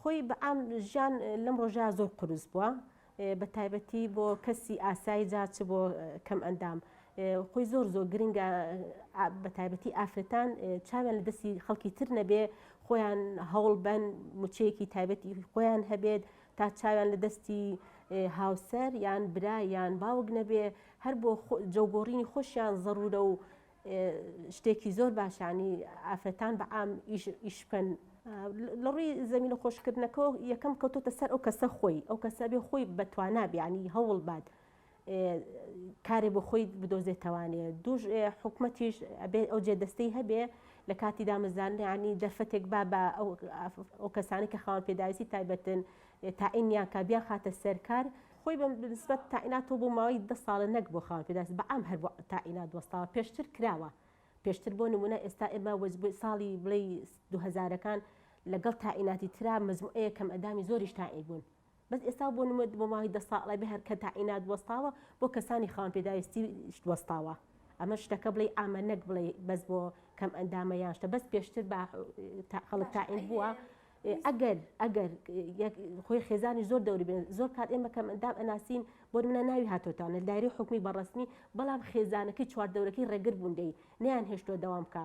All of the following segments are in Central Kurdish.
خۆی بەعام ژیان لەم ڕۆژە زۆر قرس بووە بە تایبەتی بۆ کەسی ئاسایی جاچ بۆ کەم ئەندام خۆی زۆر زۆر گرنگە بە تایبەتی ئافرەتان چاویان لە دەستی خەڵکی تر نەبێ خۆیان هەوڵ بەن موچەیەکی تایبەتی خۆیان هەبێت تا چاویان لە دەستی هاوسەر یان برا یان باوک نەبێ هەر بۆ جەوگۆڕینی خۆشیان زەڕورە و شتێکی زۆر باشانی ئافرەتان بە عام ئیش بکەن لە ڕووی زمین و خۆشکردنەکە یەکەم کەوتۆتە سەر ئەو کەسە خۆی ئەو کەسە بێ خۆی بەتوانابیانی هەوڵ بات کارێ بۆ خۆی بدۆزێتەوانێ دوش حکومەتیش ئەبێ ئەو جێ دەستەی هەبێ لە کاتی دامەزانانی دەرفەتێک با بە ئەو کەسانی کە خاوەن پێداویستی تایبەتن تاعینیان کا بیان خاتە سەرکار خۆی بە نسبەت تاعیناتۆ بۆ ماوەی دە ساڵە نەک بۆ خاوەن پێداست بە ئەم هەر بۆ تاعینات وەستاوە پێشتر کراوە پێشتر بۆ نمونە ئێستا ئێمە وەزبووی ساڵی بڵێ دوهزارەکان لەگەڵ تاعیناتی ترا مزمئەیە کەم ئەدامی زۆریش تاعی بوون بەس ئێستا بۆ نموە بۆ ماوەی دە ساڵە بێ هەر کە تاعینات وەستاوە بۆ کەسانی خاوەن پێداویستی وەستاوە ئەمە شتەکە بڵێی ئامە نەک بڵێی بەس بۆ کەم ئەندامە یان شتە بەس پێشتر بە خەڵک تاعین بووە ئەگەر ئەگەر خۆی خێزانی زۆر دەوری بێن زۆر کات ئێمە کەم ئەندام ئەناسین بۆ منە ناوی هاتۆتانە دایری حکومی بەڕسمی بەڵام خێزانەکەی چوار دەورەکەی ڕێگر بووندەی نیان هێشتوە دەوام بکە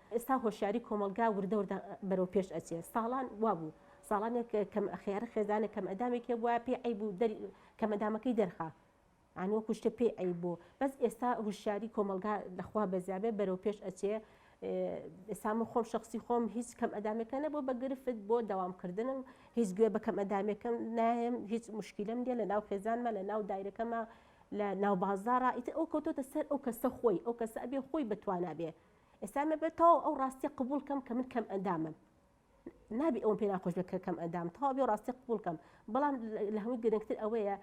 ئێستا هۆشیاری کۆمەڵگا وردە وردە بەرەو پێش ئەچێ ساڵان وابوو ساڵانێک کەم خێارە خێزانە کەم ئەدامێک هێ وایە پێ عیب و کەمەدامەکەی دەرخا ئەنوە کوشتە پێ ئەی بۆ بەس ئێستا هوشاری کۆمەلگا لەخوا بەزیابێ بەرەو پێش ئەچێ ئێسام خۆم شخصی خۆم هیچ کەم ئەدامەکە نە بۆ بەگرفت بۆ داوامکردنم هیچ گوێ بە کەم ئەدامەکەم نایم هیچ مشکلم دێ لە ناو خێزانمە لە ناو دایرەکەمە لە ناو بازارە ئیتر ئەو کۆتۆتە سەر ئەو کەسە خۆی ئەو کەسە ئەبێ خۆی بتوانابێ ئێستا من بە تەواو ئەو ڕاستیە قبول کەم کە من کەم ئەندامم نابی ئەوم پێ ناخۆش بێت کە کەم ئەندام تەواو بێ ڕاستی قبول کەم بەڵام لە هەمووی گرنگتر ئەوەیە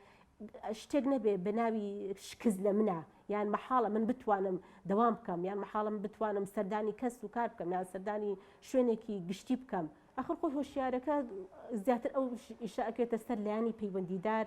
شتێک نەبێ بە ناوی شکز لە منە یان مححاڵە من بتوانم دەوام بکەم یان مححاڵم بتوانم سەردانی کەس و کار بکەم یان سەردانی شوێنێکی گشتی بکەم ئەخر خۆی هۆشیارەکە زیاتر ئەو ئیشاکێتە سەر لایانی پەیوەندیدار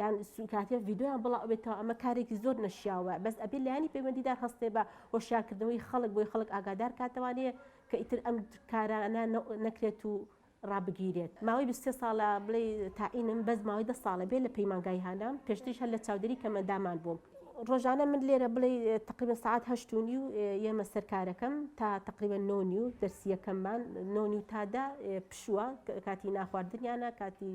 یان سوکاتە ڤیددیویان بڵاو بێتەوە ئەمە کارێکی زۆر نەشیاوە بەس ئەبێ لایانی پەیوەندیدار هەستێ بە هۆشیارکردنەوەی خەڵک بۆی خەڵک ئاگادار کاتەوانەیە کە ئیتر ئەم کارانە نەکرێت و ڕابگیرێت ماوەی 23 ساڵە بڵێ تاعینم بەس ماوەی دە ساڵە بێ لە پەیمانگای هانام پێشتیش هەر لە چاودێری کەمەندامان بووم ڕۆژانە من لێرە بڵێ تقریبا سعات هەشتونی و ئێمە سەرکارەکەم تا تقریبا نۆنی و دەرسیەکەممان نۆنی و تادا پشووە کاتی ناخواردنیانە کاتی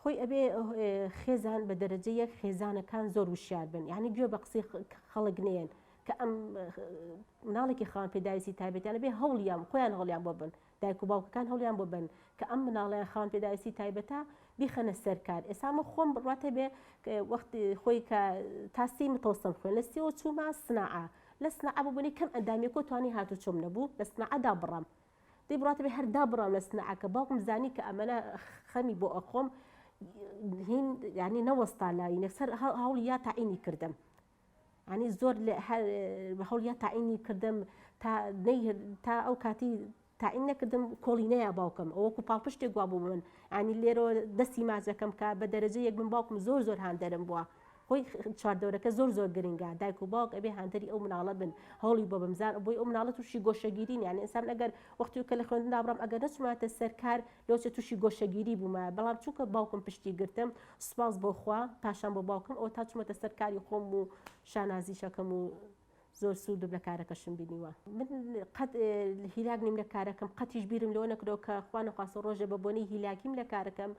خۆی ئەبێ خێزان بە دەرەجە یەک خێزانەکان زۆر وشیار بن یعنی گوێ بە قسەی خەڵک نێن کە ئەم مناڵێکی خان پێداویستی تایبەتیانە بێ هەوڵیان خۆیان هەڵیان بۆ بن دایک و باوکەکان هەڵیان بۆ بن کە ئەم مناڵیان خان پێداویستی تایبەتە بیخەنە سەرکار ئێسامە خۆم بڕاتە بێ وەخت خۆی کە تاسی متۆسم خوێن لە سیەوە چوومە سناعە لە سناعە ببوونی کەم ئەندامی کۆتوانی هاتو چۆم نەبوو لە سناعەدا بڕم دەی بڕاتبێ هەر دابڕام لە سنعەکە باوکم زانی کە ئەمەە خەمی بۆ ئەخۆم هین یعنی نەوەستا لای نەسەر هەوڵ یا تاعینی کردم ینی زۆر هەوڵیا تاعینی کردم تا تا ئەو کاتی تاعین نەکردم کۆڵینەیە باوکم ئەوکو پاڵپشتێک گووا بوو من ئەنی لێرەوە دەستی ماچەکەم کە بە دەرەجە یەک من باوکم زۆر زۆر هاندەرم بووە خۆی چواردەورەکە زۆر زۆر گرنگە دایک و باوک ئەبێ هاندەری ئەو مناڵە بن هەوڵی بۆ بمزار بۆی ئەو مناڵە تووشی گۆشەگیری یانە ئسان ئەگەر وەختی کە لە خوێندنا بڕم ئەگەر نەچماتە سەرکار لۆچە تووشی گۆشەگیری بوومە بەڵام چونکە باوکم پشتی گرتم سوپاس بۆخوا پاشان بۆ باوکم ئەو تا چمەتە سەرکاری خۆم و شانازیشەکەم و زۆر سوودم لە کارەکەشم بینیوە. من قەت هیلاک نیم لە کارەکەم، قەتیش بیرم لەوە نەکردەوە کە خوا نەخواستە ڕۆژێ بە بۆنەی هیلاکیم لە کارەکەم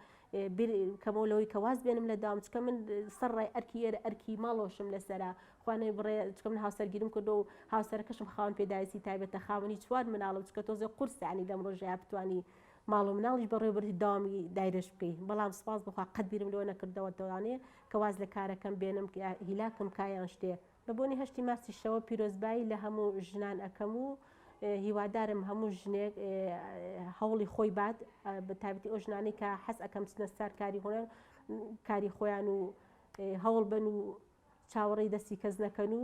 بیر کەمەوە لەوەی کە واز بێنم لە داوام، چونکە من سەر ڕای ئەرکی ئێرە ئەرکی ماڵەوەشم لەسەرە، خوا نەیبڕێ چونکە من هاوسەرگیریم کردووە و هاوسەرەکەشم خاوەن پێداویستی تایبەتە، خاوەنی چوار مناڵم، چونکە تۆزێ قورسە یانی لەم ڕۆژەیا بتوانی ماڵ و مناڵیش بەڕێوەبەری داوامی دایرەش بکەی، بەڵام سوپاس بەخوا قەت بیرم لەوە نەکردەوە دەتوانێ کە واز لە کارەکەم بێنم، هیلاکم کا یان شتێ. بە بۆنەی هەشتی مارسی شەوە پیرۆزبایی لە هەموو ژنان ئەکەم و هیوادارم هەموو ژنێک هەوڵی خۆی بات بە تابەتی ئەو ژنانی کە حەز ئەەکەم بچنە سار کاری هۆنەر کاری خۆیان و هەوڵ بن و چاوەڕێی دەستی کەس نەکەن و